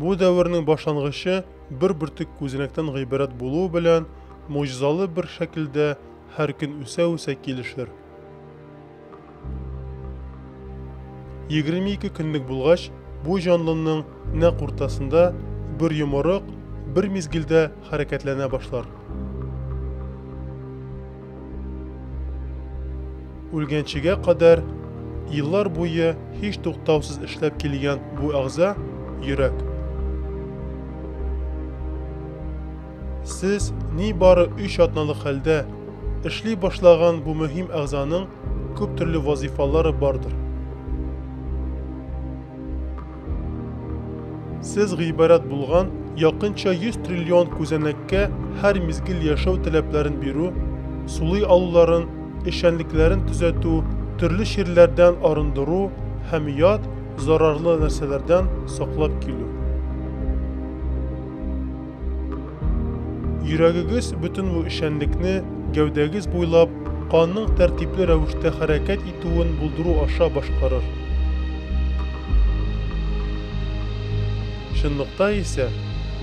Бу дәвернең башлангычы бер бөртек күзенәктән гыйбарәт булуы белән могҗизалы бер шәкелдә һәр көн үсә-үсә килешер. 22 көнлек булгач, бу җанлының нәкъ уртасында бер йомырык бер мизгелдә хәрәкәтләнә башлар. Үлгәнчегә кадәр еллар буе һич туктаусыз эшләп килгән бу әгъза, йөрәк. Сез нибары өч атналык хәлдә эшли башлаган бу мөһим әгъзаның күп төрле вазыйфалары бардыр. Сез гыйбарәт булган якынча 100 триллион күзәнәккә һәр мизгел яшәү таләпләрен бирү, сулый алуларын, эшчәнлекләрен төзәтү, төрле чирләрдән арындыру һәм ят, зарарлы нәрсәләрдән саклап килү. Йөрәгегез бөтен бу эшчәнлекне гәүдәгез буйлап канның тәртипле рәвештә хәрәкәт итүен булдыру аша башкарыр. Чынлыкта исә,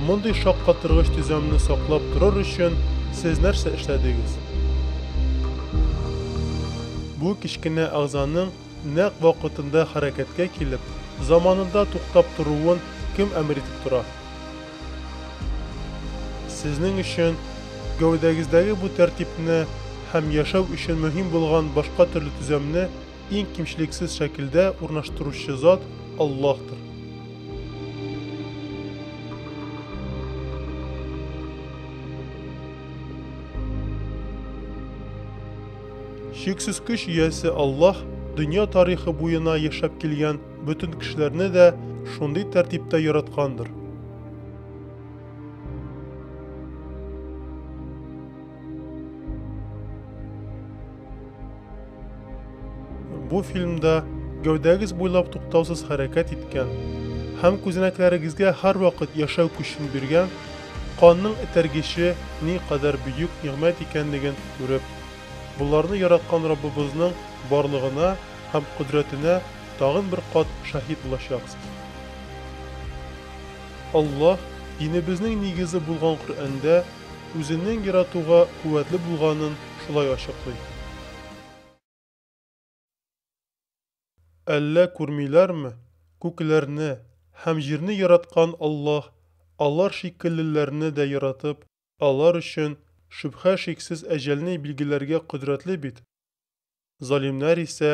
мондый шаккатыргыч төзәмне саклап торыр өчен сез нәрсә эшләдегез? Бу кечкенә әгъзаның Нәкъ вакытында хәрәкәткә килеп, заманында туктап торуын кем әмер итеп тора? Сезнең өчен гәүдәгездәге бу тәртипне һәм яшәү өчен мөһим булган башка төрле төзәмне иң кимчелексез шәкелдә урнаштыручы зат Аллаһтыр. Чиксез көч иясе Аллаһ дөнья тарихы буена яшәп килгән бөтен кешеләрне дә шундый тәртиптә яраткандыр. Бу фильмда гәүдәгез буйлап туктаусыз хәрәкәт иткән һәм күзәнәкләрегезгә һәрвакыт яшәү көчен биргән канның этәргече ни кадәр бөек нигъмәт икәнлеген күреп Боларны яраткан Раббыбызның барлыгына һәм кодрәтенә тагын бер кат шаһит булачаксыз. Аллаһ динебезнең нигезе булган Коръәндә Үзенең яратуга куәтле булганын шулай ачыклый. Әллә күрмиләрме, күкләрне һәм җирне яраткан Аллаһ алар шикеллеләрне дә яратып, алар өчен, шөбһә-шиксез, әҗәлне билгеләргә кодрәтле бит. Залимнәр исә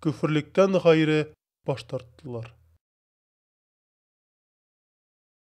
көферлектән гайре баш тарттылар.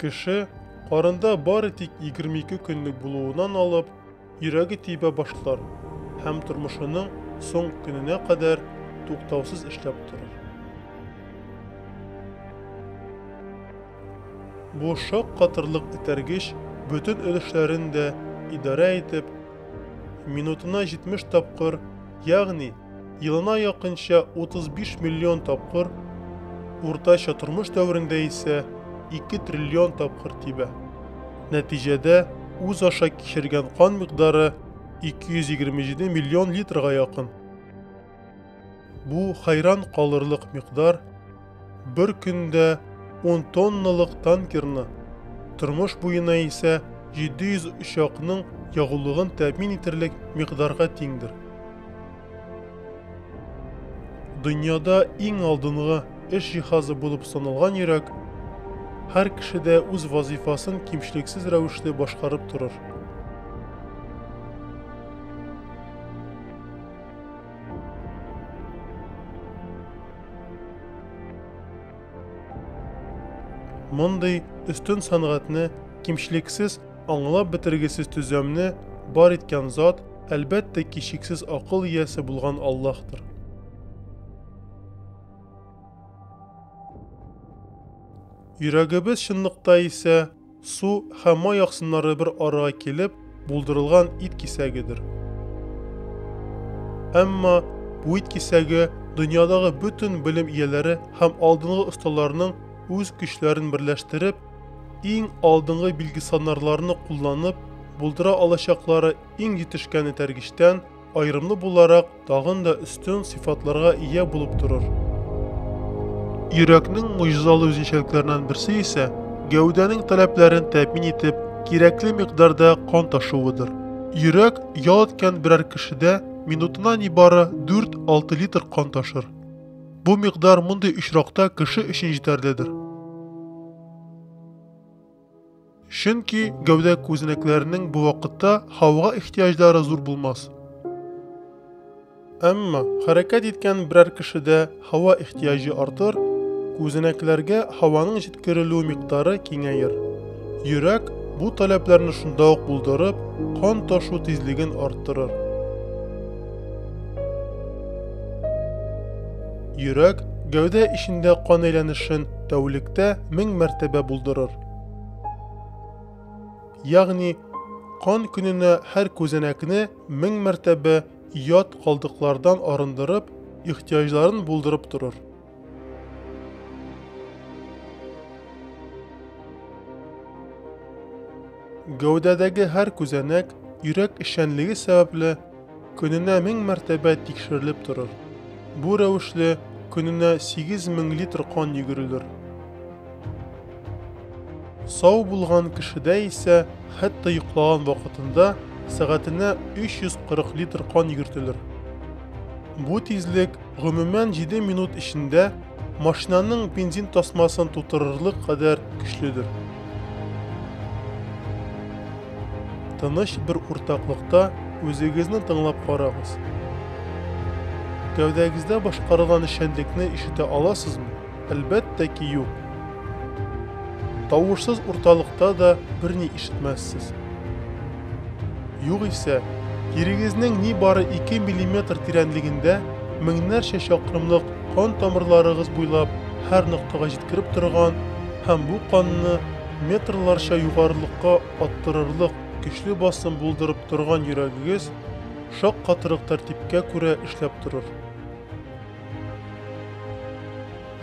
Кеше карында бары тик 22 көнлек булуынан алып, йөрәге тибә башлар һәм тормышының соң көненә кадәр туктаусыз эшләп торыр. Бу шок катырлык итәргеч бөтен өлешләрен дә идарә итеп, минутына 70 тапкыр, ягъни Елына якынча 35 миллион тапкыр, уртача тормыш дәверендә исә 2 триллион тапкыр тибә. Нәтиҗәдә, үз аша кичергән кан микъдары 227 миллион литрга якын. Бу, хәйран калырлык микъдар. Бер көндә ун тонналык танкерны, тормыш буена исә 700 очакның ягулыгын тәэмин итерлек микъдарга тиңдер. Дөньяда иң алдынгы эш җиһазы булып саналган йөрәк һәр кешедә үз вазыйфасын кимчелексез рәвештә башкарып торыр. Мондый өстен сәнгатьне, кимчелексез, аңлап бетергесез төзәмне бар иткән зат, әлбәттә, кичексез акыл иясе булган Аллаһтыр. Йөрәгебез чынлыкта исә Су һәм май аксымнары бер арага килеп булдырылган ит кисәгедер. Әмма бу ит кисәге дөньядагы бөтен белем ияләре һәм алдынгы осталарның үз көчләрен берләштереп, иң алдынгы билгесанарларны кулланып булдыра алачаклары иң җитешкән этәргечтән, Аерымлы буларак тагын да өстен сыйфатларга ия булып торыр. Йөрәкнең муҗизалы үзенчәлекләреннән берсе исә гәүдәнең таләпләрен тәэмин итеп, кирәкле микъдарда кан ташуыдыр. Йөрәк ял иткән берәр кешедә минутына нибары 4-6 литр кан ташыр. Бу микъдар мондый очракта кеше өчен җитәрледер. Чөнки гәүдә күзенекләренең бу вакытта һавага ихтиҗлары зур булмас. Әмма хәрәкәт иткән берәр кешедә һава ихтиҗы артыр, күзенекләргә һаваның җиткерелү микъдары киңәер. Йөрәк бу таләпләрне шунда ук булдырып, кан ташу тизлеген арттырыр. Йөрәк гәүдә эчендә кан әйләнешен тәүлектә мең мәртәбә булдырыр. Ягъни, кан көненә һәр күзәнәкне мең мәртәбә ят калдыклардан арындырып, ихтияҗларын булдырып торыр. Гәүдәдәге һәр күзәнәк йөрәк эшчәнлеге сәбәпле көненә мең мәртәбә тикшерелеп торыр. Бу рәвешле көненә 8000 литр кан йөгерелер. Сау булган кешедә исә хәтта йоклаган вакытында сәгатенә 340 литр кан йөгертелер. Бу тизлек гомумән 7 минут эчендә Машинаның бензин тасмасын тутырырлык кадәр көчледер. Тыныч бер уртаклыкта үзегезне тыңлап карагыз. Гәүдәгездә башкарылган эшчәнлекне ишетә аласызмы? Әлбәттә ки, юк. Тавышсыз урталыкта да берни ишетмәссез. Югыйсә, тирегезнең ни бары 2 мм тирәнлегендә меңнәрчә чакрымлык кан тамырларыгыз буйлап һәр ноктага җиткереп торган һәм бу канны метрларча югарылыкка аттырырлык көчле басым булдырып торган йөрәгегез шаккатырлык тәртипкә күрә эшләп торыр.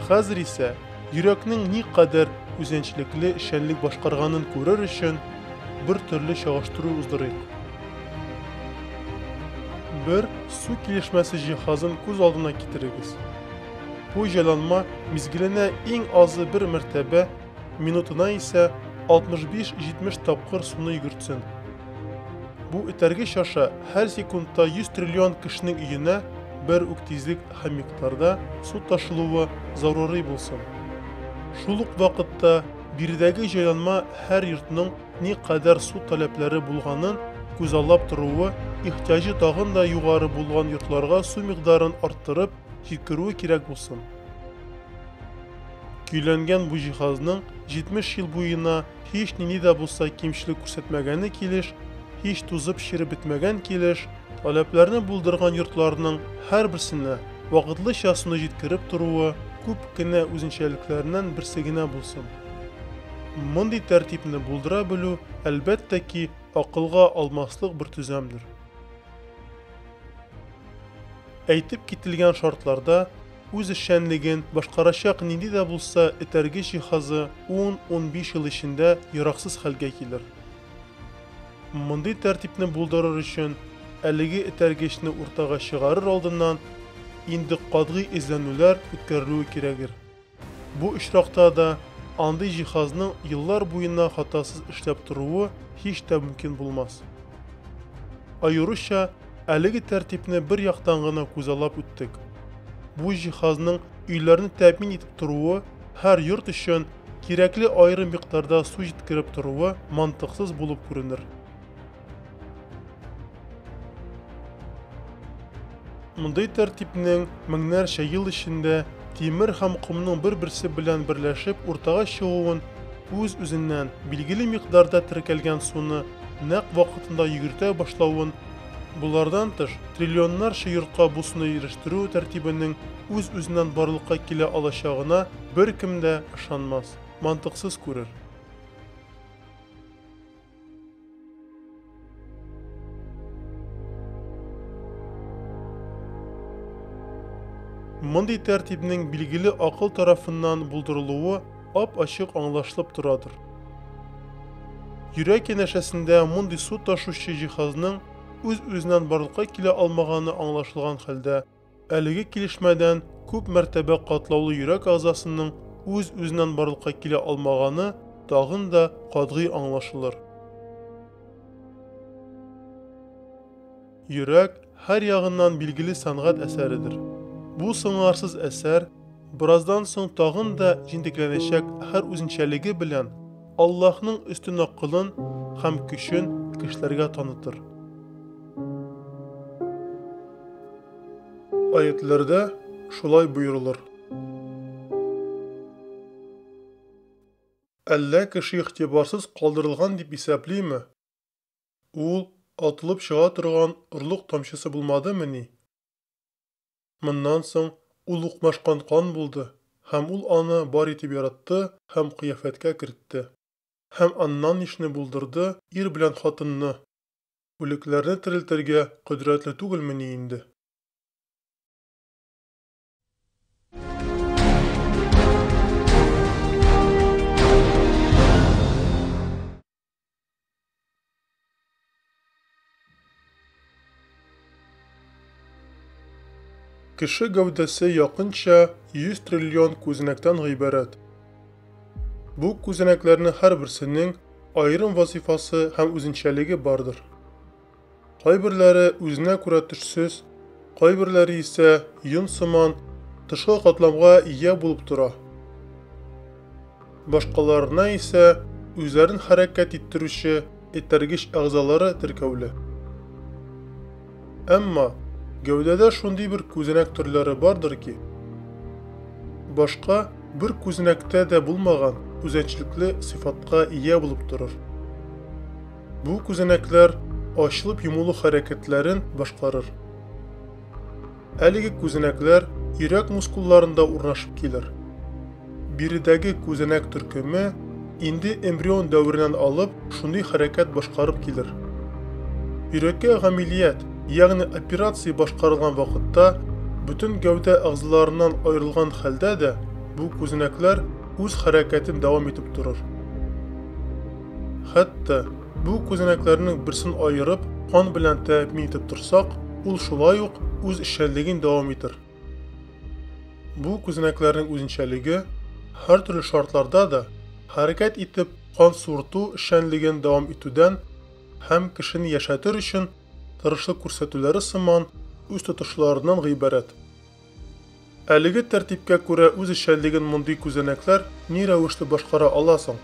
Хәзер исә йөрәкнең никадәр үзенчлекле эшчәнлек башкарганын күрер өчен бер төрле чагыштыру уздырыйк. Бер су килешмәсе җиһазын күз алдына китерегез. Бу җайланма мизгеленә иң азы бер мәртәбә, минутына исә 65-70 тапкыр суны йөгертсен. Бу этәргеч аша һәр секундта 100 триллион кешенең өенә бер үк тизлек һәм микъдарда су ташылуы зарури булсын. Шул ук вакытта биредәге җайланма һәр йортның никадәр су таләпләре булганын күзаллап торуы, ихтиаҗы тагын да югары булган йортларга су микъдарын арттырып җиткерүе кирәк булсын. Көйләнгән бу җиһазның 70 ел буена һич нинди дә булса кимчелек күрсәтмәгәне килеш, һич тузып череп бетмәгән килеш, таләпләрне булдырган йортларның һәрберсенә вакытлыча суны җиткереп торуы күп кенә үзенчәлекләреннән берсе генә булсын. Мондый тәртипне булдыра белү, әлбәттә ки, акылга алмаслык бер төзәмдер. Әйтеп кителгән шартларда үз эшчәнлеген башкарачак нинди дә булса этәргеч җиһазы 10-15 ел эчендә яраксыз хәлгә килер. Мондый тәртипне булдырыр өчен әлеге этәргечне уртага чыгарыр алдыннан инде катгый эзләнүләр үткәрелүе кирәгер. Бу очракта да андый җиһазның еллар буена хатасыз эшләп торуы һич тә мөмкин булмас. Аеруча әлеге тәртипне бер яктан гына күзаллап үттек. Бу җиһазның өйләрне тәэмин итеп торуы, һәр йорт өчен кирәкле аерым микъдарда су җиткереп торуы мантыксыз булып күренер. Мондый тәртипнең меңнәрчә ел эчендә тимер һәм комның бер-берсе белән берләшеп уртага чыгуын үз-үзеннән билгеле микъдарда теркәлгән суны нәкъ вакытында йөгертә башлавын, болардан тыш, триллионнарча йортка бу суны ирештерү тәртибенең үз-үзеннән барлыкка килә алачагына беркем дә ышанмас, мантыксыз күрер. Мондый тәртипнең билгеле акыл тарафыннан булдырылуы ап-ачык аңлашылып торадыр. Йөрәк янәшәсендә мондый су ташучы җиһазның үз-үзеннән барлыкка килә алмаганы аңлашылган хәлдә, Әлеге килешмәдән күп мәртәбә катлаулы йөрәк әгъзасының үз-үзеннән барлыкка килә алмаганы тагын да катгый аңлашылыр. Йөрәк һәр ягыннан билгеле сәнгать әсәредер. Бу сыңарсыз әсәр, бераздан соң тагын да җентекләнәчәк һәр үзенчәлеге белән, Аллаһның өстен акылын һәм көчен кешеләргә танытыр. Аятләрдә шулай боерылыр. Әллә кеше игътибарсыз калдырылган дип исәплиме? Ул атылып чыга торган орлык тамчысы булмадымыни? Моннан соң ул укмашкан кан булды, һәм ул аны бар итеп яратты һәм кыяфәткә кертте. Һәм аннан ничне булдырды, ир белән хатынны? Үлекләрне терелтергә кодрәтле түгелмени инде? Кеше гәүдәсе якынча 100 триллион күзенәктән гыйбарәт. Бу күзенәкләрнең һәрберсенең аерым вазифасы һәм үзенчәлеге бардыр. Кайберләре үзенә күрә төшсез, кайберләре исә йон сыман тышкы катламга ия булып тора. Башкаларына исә үзләрен хәрәкәт иттерүче этәргеч әгъзалары теркәүле. Әмма гәүдәдә шундый бер күзәнәк төрләре бардыр ки, башка бер күзәнәктә дә булмаган үзенчәлекле сыйфатка ия булып торыр. Бу күзәнәкләр ачылып йомылу хәрәкәтләрен башкарыр. Әлеге күзәнәкләр йөрәк мускулларында урнашып килер. Биредәге күзәнәк төркеме инде эмбрион дәвереннән алып шундый хәрәкәт башкарып килер. Йөрәккә гамилият, ягъни операция башкарылган вакытта бөтен гәүдә әгъзаларыннан аерылган хәлдә дә бу күзәнәкләр үз хәрәкәтен дәвам итеп торыр. Хәтта бу күзәнәкләрнең берсен аерып, кан белән тәэмин итеп торсак, ул шулай ук үз эшчәнлеген дәвам итер. Бу күзәнәкләрнең үзенчәлеге һәртөрле шартларда да хәрәкәт итеп кан суырту эшчәнлеген дәвам итүдән һәм кешене яшәтер өчен тырышлык күрсәтүләре сыман үз тотышларыннан гыйбарәт. Әлеге тәртипкә күрә үзешчәнлеген мондый күзәнәкләр ни рәвешле башкара ала соң?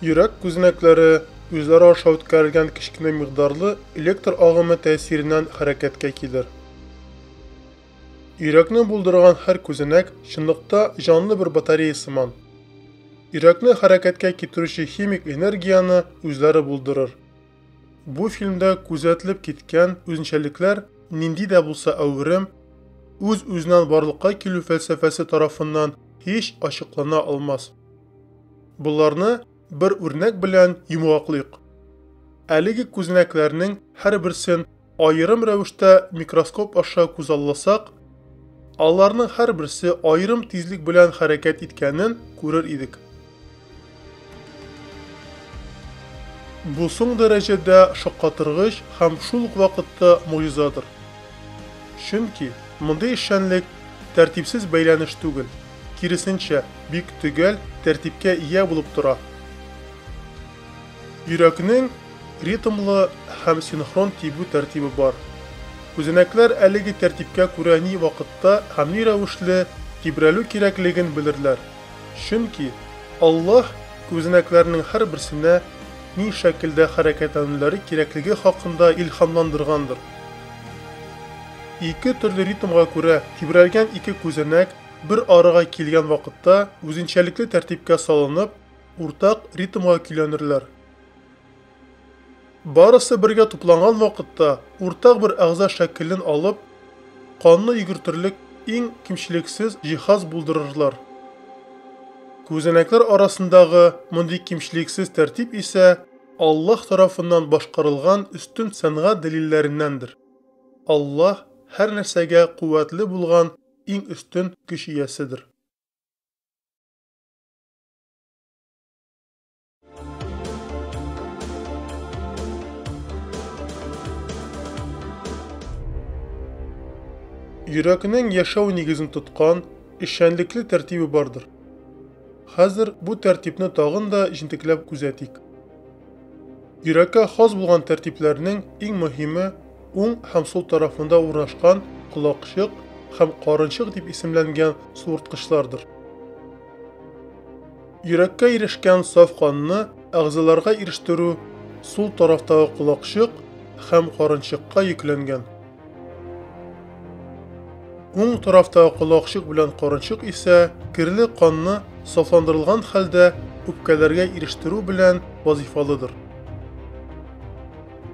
Йөрәк күзәнәкләре үзләре аша үткәрелгән кечкенә микъдарлы электр агымы тәэсиреннән хәрәкәткә килер. Йөрәкне булдырган һәр күзәнәк чынлыкта җанлы бер батарея сыман. Йөрәкне хәрәкәткә китерүче химик энергияне үзләре булдырыр. Бу фильмда күзәтелеп киткән үзенчәлекләр нинди дә булса әверем, үз-үзеннән барлыкка килү фәлсәфәсе тарафыннан һич ачыклана алмас. Боларны бер үрнәк белән йомгаклыйк. Әлеге күзәнәкләрнең һәрберсен Аерым рәвештә микроскоп аша күзалласак, аларның һәрберсе аерым тизлек белән хәрәкәт иткәнен күрер идек. Бу соң дәрәҗәдә шаккатыргыч һәм шул ук вакытта могҗизадыр. Чөнки мондый эшчәнлек тәртипсез бәйләнеш түгел, киресенчә, бик төгәл тәртипкә ия булып тора. Йөрәкнең ритмлы һәм синхрон тибү тәртибе бар. Күзәнәкләр әлеге тәртипкә күрә ни вакытта һәм ни рәвешле тибрәлү кирәклеген белерләр, чөнки Аллаһ күзәнәкләрнең һәрберсенә ни шәкелдә хәрәкәтләнүләре кирәклеге хакында илһамландыргандыр. Ике төрле ритмга күрә тибрәлгән ике күзәнәк бер арага килгән вакытта үзенчәлекле тәртипкә салынып, уртак ритмга көйләнерләр. Барысы бергә тупланган вакытта уртак бер әгъза шәкелен алып, канны йөгертерлек иң кимчелексез җиһаз булдырырлар. Күзәнәкләр арасындагы мондый кимчелексез тәртип исә Аллаһ тарафыннан башкарылган өстен сәнгать дәлилләреннәндер. Аллаһ һәр нәрсәгә куәтле булган иң өстен көч ияседер. Йөрәкнең яшәү нигезен тоткан эшчәнлекле тәртибе бардыр. Хәзер бу тәртипне тагын да җентекләп күзәтик. Йөрәккә хас булган тәртипләрнең иң мөһиме уң һәм сул тарафында урнашкан колакчык һәм карынчык дип исемләнгән суырткычлардыр. Йөрәккә ирешкән саф канны әгъзаларга ирештерү сул тарафтагы колакчык һәм карынчыкка йөкләнгән. Уң тарафтагы колакчык белән карынчык исә керле канны сафландырылган хәлдә үпкәләргә ирештерү белән вазыйфалыдыр.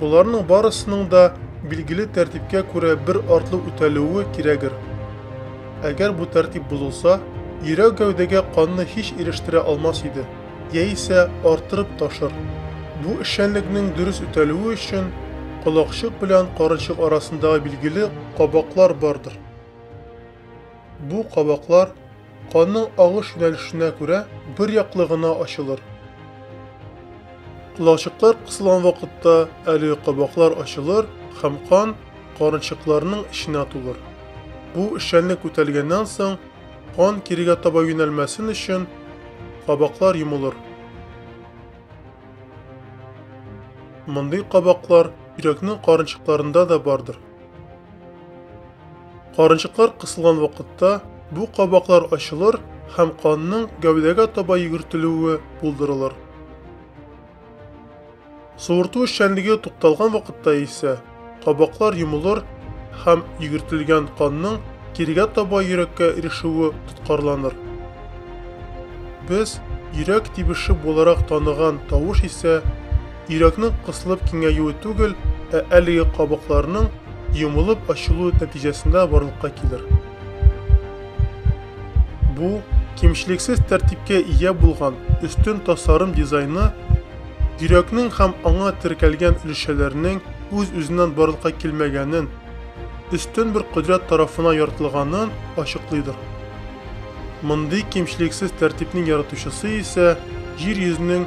Боларның барысының да билгеле тәртипкә күрә бер артлы үтәлүе кирәгер. Әгәр бу тәртип бозылса, йөрәк гәүдәгә канны һич ирештерә алмас иде, яисә арттырып ташыр. Бу эшчәнлекнең дөрес үтәлүе өчен колакчык белән карынчык арасындагы билгеле кабаклар бардыр. Бу кабаклар Канның агыш юнәлешенә күрә бер яклы гына ачылыр. Колакчыклар кысылган вакытта әлеге кабаклар ачылыр һәм кан карынчыкларның эченә тулыр. Бу эшчәнлек үтәлгәннән соң, кан кирегә таба юнәлмәсен өчен, кабаклар йомылыр. Мондый кабаклар йөрәкнең карынчыкларында да бардыр. Карынчыклар кысылган вакытта бу кабаклар ачылыр һәм канның гәүдәгә таба йөгертелүе булдырылыр. Суырту эшчәнлеге тукталган вакытта исә кабаклар йомылыр һәм йөгертелгән канның кирегә таба йөрәккә ирешүе тоткарланыр. Без йөрәк тибеше буларак таныган тавыш исә Йөрәкнең кысылып киңәюе түгел, ә әлеге кабыкларның йомылып ачылуы нәтиҗәсендә барлыкка килер. Бу, кимчелексез тәртипкә ия булган өстен тасарым дизайны йөрәкнең һәм аңа теркәлгән өлешчәләрнең үз-үзеннән барлыкка килмәгәнен, өстен бер кодрәт тарафына яртылганын ачыклыйдыр. Мондый кимчелексез тәртипнең яратучысы исә Җир йөзенең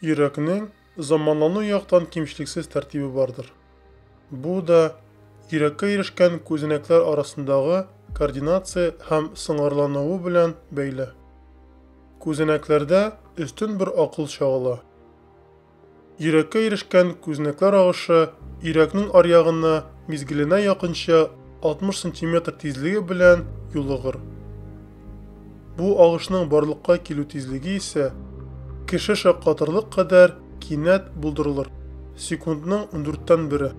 Йөрәкнең заманлану яктан кимчелексез тәртибе бардыр. Бу да йөрәккә ирешкән күзәнәкләр арасындагы координация һәм сыңгырлануы белән бәйле. Күзәнәкләрдә өстен бер акыл чагыла. Йөрәккә ирешкән күзәнәкләр агышы йөрәкнең аръягына мизгеленә якынча 60 сантиметр тизлеге белән юлыгыр. Бу агышның барлыкка килү тизлеге исә кеше шаккатырлык кадәр кинәт булдырылыр, секундның ундүрттән бере.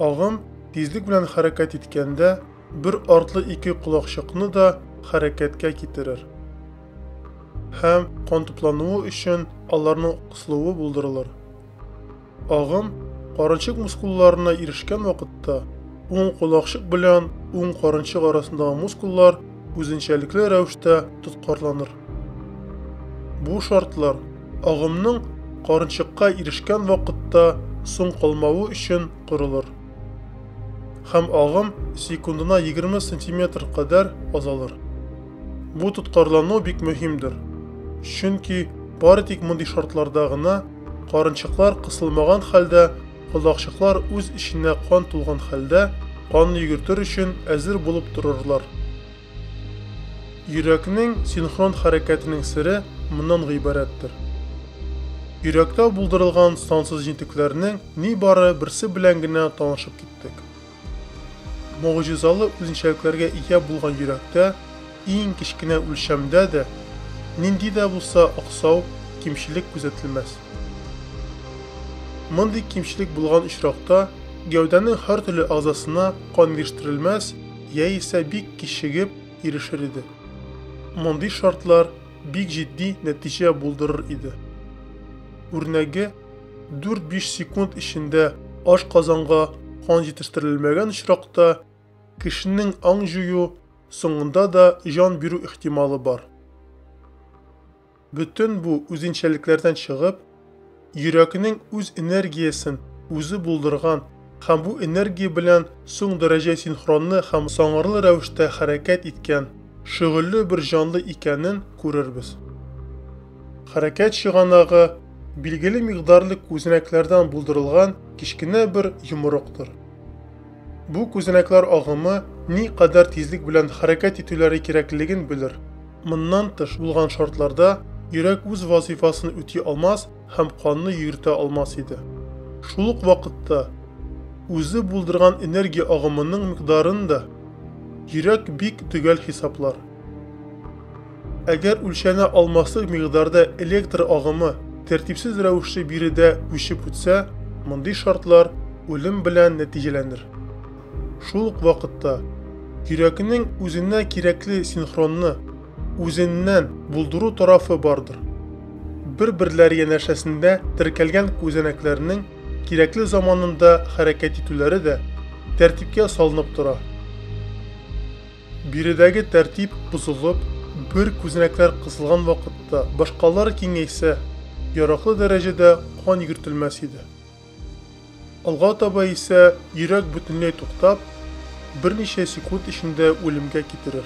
Агым тизлек белән хәрәкәт иткәндә, бер артлы ике колакчыкны да хәрәкәткә китерер һәм кан туплануы өчен аларның кысылуы булдырылыр. Агым карынчык мускулларына ирешкән вакытта, уң колакчык белән уң карынчык арасындагы мускуллар үзенчәлекле рәвештә тоткарланыр. Бу шартлар агымның карынчыкка ирешкән вакытта соң калмавы өчен корылыр. Һәм агым секундына 20 см кадәр азалыр. Бу тоткарлану бик мөһимдер. Чөнки бары тик мондый шартларда гына карынчыклар кысылмаган хәлдә, колакчыклар үз эченә кан тулган хәлдә канны йөгертер өчен әзер булып торырлар. Йөрәкнең синхрон хәрәкәтенең сере моннан гыйбарәттер. Йөрәктә булдырылган сансыз җентекләрнең нибары берсе белән генә танышып киттек. Могҗизалы үзенчәлекләргә ия булган йөрәктә, иң кечкенә үлчәмдә дә, нинди дә булса аксау, кимчелек күзәтелмәс. Мондый кимчелек булган очракта, гәүдәнең һәртөрле әгъзасына кан ирештерелмәс яисә бик кичегеп ирешер иде. Мондый шартлар бик җитди нәтиҗә булдырыр иде. Үрнәге, 4-5 секунд эчендә аш казанга кан җитештерелмәгән очракта, кешенең аң җую, соңында да җан бирү ихтималы бар. Бөтен бу үзенчәлекләрдән чыгып, йөрәкнең үз энергиясен үзе булдырган һәм бу энергия белән соң дәрәҗә синхронлы һәм саңгырлы рәвештә хәрәкәт иткән шөгыльле бер җанлы икәнен күрербез. Хәрәкәт чыганагы билгеле микъдарлы күзәнәкләрдән булдырылган кечкенә бер йомырыктыр. Бу күзәнәкләр агымы ни кадәр тизлек белән хәрәкәт итүләре кирәклеген белер. Моннан тыш булган шартларда йөрәк үз вазыйфасын үти алмас һәм канны йөгертә алмас иде. Шул ук вакытта үзе булдырган энергия агымының микъдарын да йөрәк бик төгәл хисаплар. Әгәр үлчәнә алмаслык микъдарда электр агымы тәртипсез рәвешле биредә күчеп үтсә, мондый шартлар үлем белән нәтиҗәләнер. Шул ук вакытта йөрәкнең үзенә кирәкле синхронны, үзеннән булдыру тарафы бардыр. Бер-берләре янәшәсендә теркәлгән күзәнәкләрнең кирәкле заманында хәрәкәт итүләре дә тәртипкә салынып тора. Биредәге тәртип бозылып, бер күзәнәкләр кысылган вакытта башкалары киңәйсә, яраклы дәрәҗәдә кан йөгертелмәс иде. Алга таба исә йөрәк бөтенләй туктап, берничә секунд эчендә үлемгә китерер.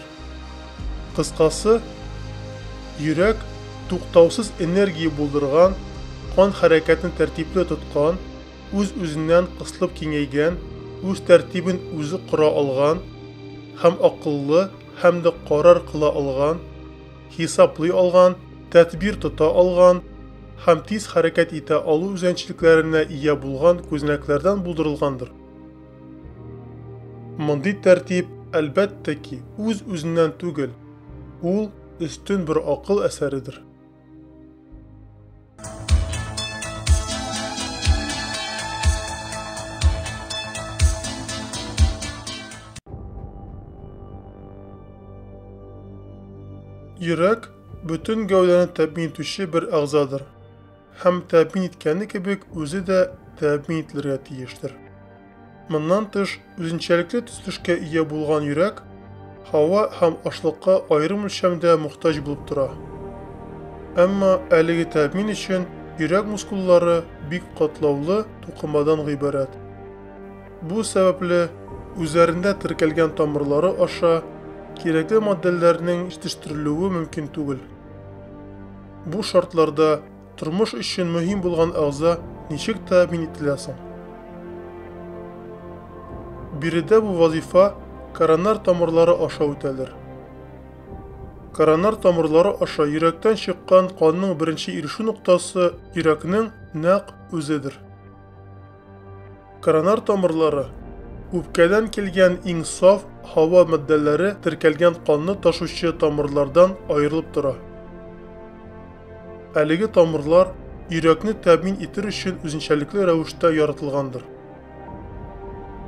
Кыскасы, йөрәк, туктаусыз энергия булдырган, кан хәрәкәтен тәртипле тоткан, үз-үзеннән кысылып киңәйгән, үз тәртибен үзе кора алган һәм акыллы һәм дә карар кыла алган, хисаплый алган, тәдбир тота алган һәм тиз хәрәкәт итә алу үзенчәлекләренә ия булган күзәнәкләрдән булдырылгандыр. Мондый тәртип, әлбәттә ки, үз-үзеннән түгел, ул өстен бер акыл әсәредер. Йөрәк бөтен гәүдәне тәэмин итүче бер әгъзадыр. Һәм тәэмин иткәне кебек үзе дә тәэмин ителергә тиештер. Моннан тыш, үзенчәлекле төзелешкә ия булган йөрәк һава һәм ашлыкка аерым үлчәмдә мохтаҗ булып тора. Әмма әлеге тәэмин өчен йөрәк мускуллары бик катлаулы тукымадан гыйбарәт. Бу сәбәпле, үзләрендә теркәлгән тамырлары аша кирәкле матдәләрнең җитештерелүе мөмкин түгел. Бу шартларда Тормыш өчен мөһим булган әгъза ничек тәэмин ителә соң? Биредә бу вазифа коронар тамырлары аша үтәлер. Коронар тамырлары аша йөрәктән чыккан канның беренче ирешү ноктасы йөрәкнең нәкъ үзедер. Коронар тамырлары Үпкәдән килгән иң саф һава матдәләре теркәлгән канны ташучы тамырлардан аерылып тора. Әлеге тамырлар йөрәкне тәэмин итер өчен үзенчәлекле рәвештә яратылгандыр.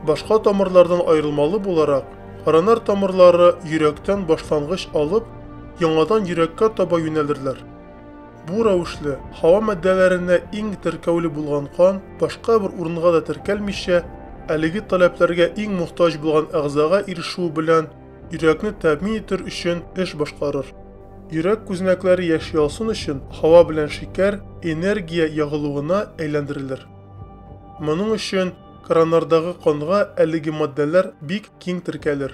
Башка тамырлардан аерылмалы буларак, коронар тамырлары йөрәктән башлангыч алып, яңадан йөрәккә таба юнәлерләр. Бу рәвешле, һава матдәләренә иң теркәүле булган кан башка бер урынга да теркәлмичә, әлеге таләпләргә иң мохтаҗ булган әгъзага ирешүе белән йөрәкне тәэмин итер өчен эш башкарыр. Йөрәк күзәнәкләре яши алсын өчен һава белән шикәр энергия ягылуына әйләндерелер. Моның өчен краннардагы канга әлеге матдәләр бик киң теркәлер.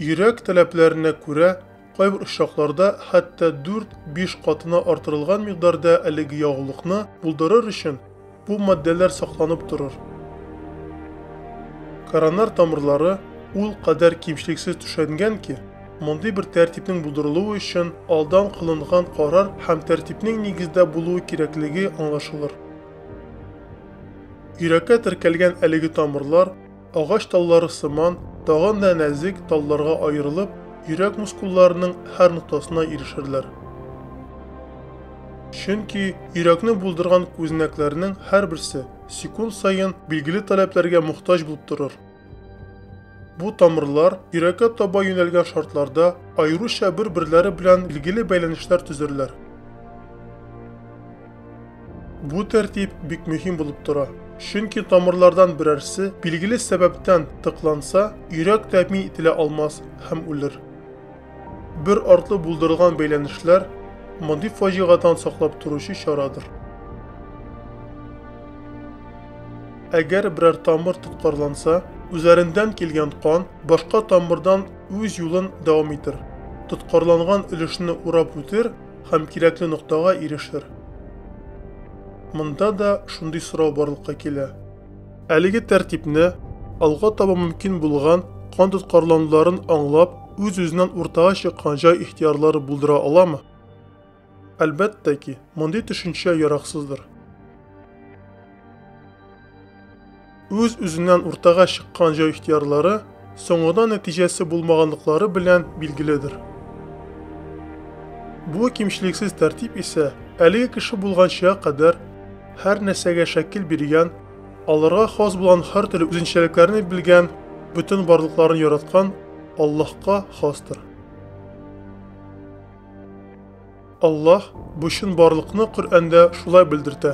Йөрәк таләпләренә күрә Кайбер очракларда хәтта дүрт-биш катына артырылган микъдарда әлеге ягулыкны булдырыр өчен бу матдәләр сакланып торыр. Коронар тамырлары ул кадәр кимчелексез түшәнгән ки, мондый бер тәртипнең булдырылуы өчен алдан кылынган карар һәм тәртипнең нигездә булуы кирәклеге аңлашылыр. Йөрәккә теркәлгән әлеге тамырлар, Агач таллары сыман, тагын да нәзек талларга аерылып, йөрәк мускулларының һәр ноктасына ирешерләр. Чөнки йөрәкне булдырган күзенәкләрнең һәрберсе секунд саен билгеле таләпләргә мохтаҗ булып торыр. Бу тамырлар йөрәккә таба юнәлгән шартларда аеруча бер-берләре белән билгеле бәйләнешләр төзерләр. Бу тәртип бик мөһим булып тора. Чөнки тамырлардан берәрсе билгеле сәбәптән тыкланса, йөрәк тәэмин ителә алмас һәм үлер. Бер артлы булдырылган бәйләнешләр мондый фаҗигадан саклап торучы чарадыр. Әгәр берәр тамыр тоткарланса, үзәрендән килгән кан башка тамырдан үз юлын дәвам итер. Тоткарланган өлешне урап үтер һәм кирәкле ноктага ирешер. Монда да шундый сорау барлыкка килә. Әлеге тәртипне, алга таба мөмкин булган кан тоткарлануларын аңлап, үз-үзеннән уртага чыккан җай ихтыярлары булдыра аламы? Әлбәттә ки, мондый төшенчә яраксыздыр. үз-үзеннән уртага чыккан җай ихтыярлары соңгыда нәтиҗәсе булмаганлыклары белән билгеледер. Бу кимчелексез тәртип исә әлеге кеше булганча кадәр һәр нәрсәгә шәкил биргән, аларга хас булган һәр төрле үзенчәлекләрне белгән, бөтен барлыкларын яраткан Аллаһка хастыр. Аллаһ бу чынбарлыкны Коръәндә шулай белдертә.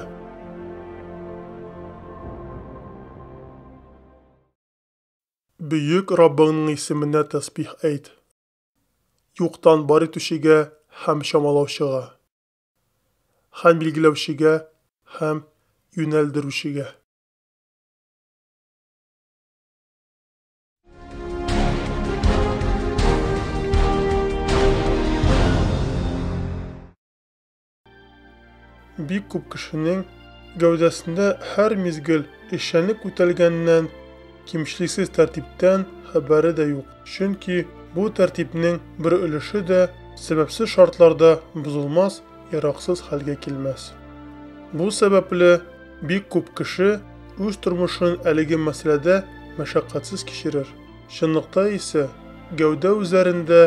Бөек Раббыңның исеменә тәсбих әйт. Юктан бар итүчегә һәм чамалаучыга. Һәм билгеләүчегә һәм юнәлдерүчегә. Бик күп кешенең гәүдәсендә һәр мизгел эшчәнлек үтәлгәннән, кимчлексез тәртиптән хәбәре дә юк. Чөнки бу тәртипнең бер өлеше дә сәбәпсез шартларда бозылмас ераксыз хәлгә килмәс. Бу сәбәпле бик күп кеше үз тормышын әлеге мәсьәләдә мәшәкатьсез кичерер. Чынлыкта исә, гәүдә үзләрендә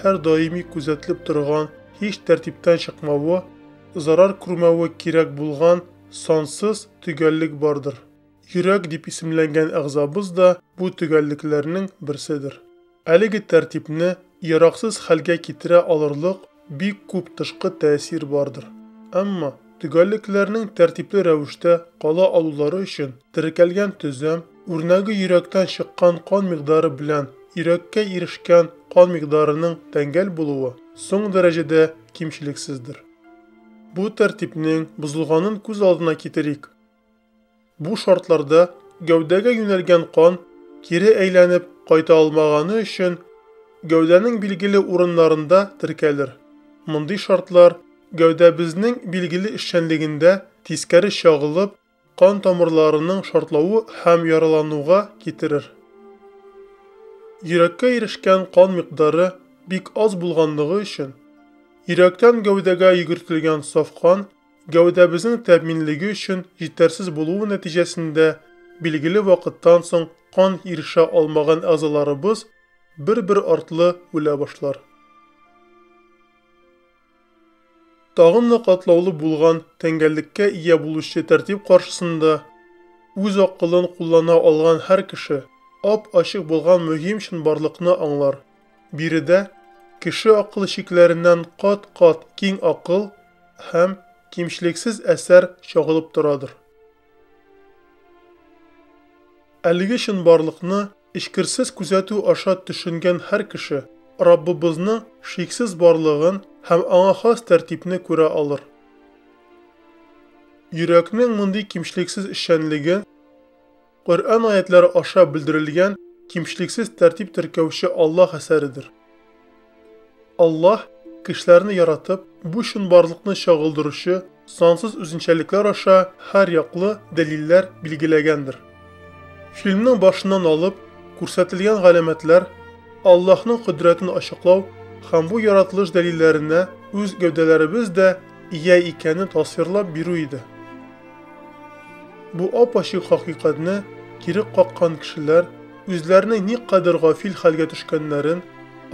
һәр даими күзәтелеп торган һич тәртиптән чыкмавы, зарар күрмәве кирәк булган сансыз төгәллек бардыр. Йөрәк дип исемләнгән әгъзабыз да бу төгәллекләрнең берседер. Әлеге тәртипне яраксыз хәлгә китерә алырлык бик күп тышкы тәэсир бардыр. Әмма төгәллекләрнең тәртипле рәвештә кала алулары өчен теркәлгән төзем, үрнәге йөрәктән чыккан кан микъдары белән йөрәккә ирешкән кан микъдарының тәңгәл булуы соң дәрәҗәдә кимчелексездер. Бу тәртипнең бозылганын күз алдына китерик. Бу шартларда гәүдәгә юнәлгән кан кире әйләнеп кайта алмаганы өчен гәүдәнең билгеле урыннарында теркәлер. Мондый шартлар гәүдәбезнең билгеле эшчәнлегендә тискәре чагылып, кан тамырларының шартлавы һәм яралануга китерер. Йөрәккә ирешкән кан микъдары бик аз булганлыгы өчен, йөрәктән гәүдәгә йөгертелгән саф кан Гәүдәбезнең тәэминлеге өчен җитәрсез булуы нәтиҗәсендә билгеле вакыттан соң кан ирешә алмаган әгъзаларыбыз бер-бер артлы үлә башлар. Тагын да катлаулы булган тәңгәллеккә ия булучы тәртип каршысында үз акылын куллана алган һәр кеше ап-ачык булган мөһим чынбарлыкны аңлар, Биредә кеше акылы чикләреннән кат-кат киң акыл һәм кимчлексез әсәр чагылып торадыр. Әлеге чынбарлыкны эчкерсез күзәтү аша төшенгән һәр кеше Раббыбызның шиксез барлыгын һәм аңа хас тәртипне күрә алыр. Йөрәкнең мондый кимчлексез эшчәнлеген Коръән аятләре аша белдерелгән кимчлексез тәртип теркәүче Аллаһ әсәредер. Аллаһ кешеләрне яратып, бу чынбарлыкны чагылдыручы сансыз үзенчәлекләр аша һәр яклы дәлилләр билгеләгәндер. Фильмның башыннан алып күрсәтелгән галәмәтләр Аллаһның кодрәтен ачыклау һәм бу яратылыш дәлилләренә үз гәүдәләребез дә ия икәнен тасвирлап бирү иде. Бу ап-ачык хакыйкатьне кире каккан кешеләр үзләренең никадәр гафил хәлгә төшкәннәрен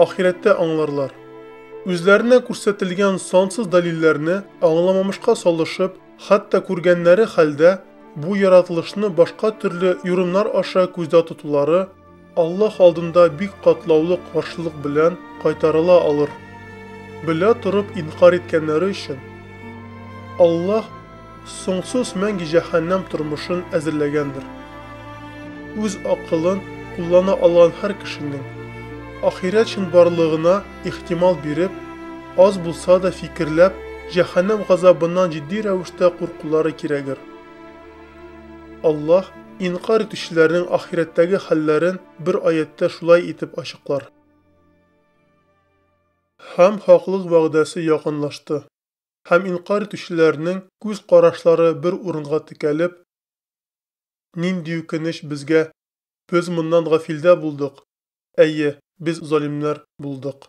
ахирәттә аңларлар. Үзләренә күрсәтелгән сансыз дәлилләрне аңламамышка салышып, хәтта күргәннәре хәлдә, бу яратылышны башка төрле юрымнар аша күздә тотулары, Аллаһ алдында бик катлаулы каршылык белән кайтарыла алыр. Белә торып инкарь иткәннәре өчен Аллаһ соңсыз мәңге җәһәннәм тормышын әзерләгәндер. Үз акылын куллана алган һәр кешенең ахирәт чынбарлыгына ихтимал биреп, аз булса да фикерләп, җәһәннәм газабыннан җитди рәвештә куркулары кирәгер. Аллаһ инкарь итүчеләрнең ахирәттәге хәлләрен бер аятьтә шулай итеп ачыклар. Һәм хаклык вәгъдәсе якынлашты. Һәм инкарь итүчеләрнең күз карашлары бер урынга текәлеп, Нинди үкенеч безгә! Без моннан гафилдә булдык! Әйе, без залимнәр булдык.